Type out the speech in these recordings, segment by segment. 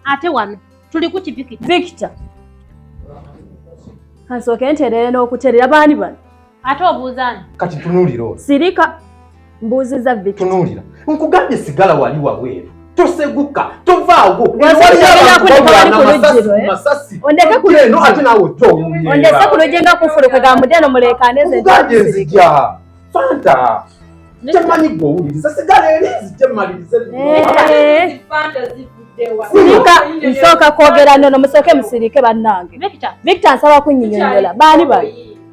ate wano tuli ku kivikita vikita kansooke ntereere n'okuterera baani bano ate obuuzaani kati tunuulira ono sirika mbuuziza vikita tunuulira nkugambye sigala wali wabweru toseguka tovaawo ondeke ku lujje nga kufuluka ga mudeno muleekaanezenzija fanta kyemanyi gwe owuliriza sigala eri nzije malirize sirika nsooka kwogera nono musooke musirike bannange victor nsaba kunyinyonyola baani bano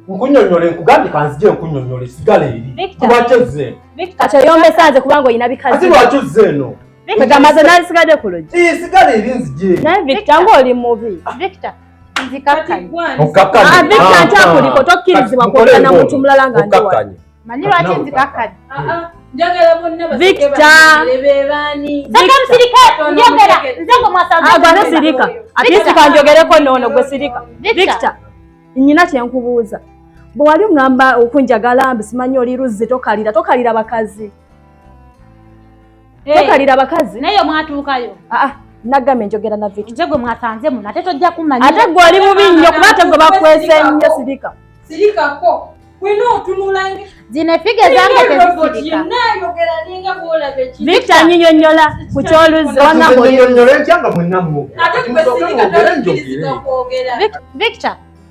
nkunyonyole nkugambye kanzije nkunyonyole sigala eri lwaki ozze kati oyombesa nze kubanga olina bikazi ati lwaki ozze eno kati amaze nali sigade ku luggi sigala eri nzije naye victor ngaoli mubi victor nzikakkanyeokakkanyeakuliko ah, tokkirizibwa kwogera na muntu mulala nga ndiwakanye manyi lwaki nzikakkanye ah, ah. Victoragwanesirika atisika njogereko noono gwe sirika Victor nyina kyenkubuuza bwe wali ŋŋamba okunjagala mbi simanyi oli luzzi tokalira tokalira bakazi Eh. tokalira abakazi naye mwatuukayo ah, ah, nagambye njogera na viki nze gwe mwasanze muno ate tojja kumanya ate gwe oli mubi nnyo kuba ate gwe bakwese nnyo sirika sirikako wena otunula zino efiga zange tezisirikavicta nyinyonyola ku kyoluzivicta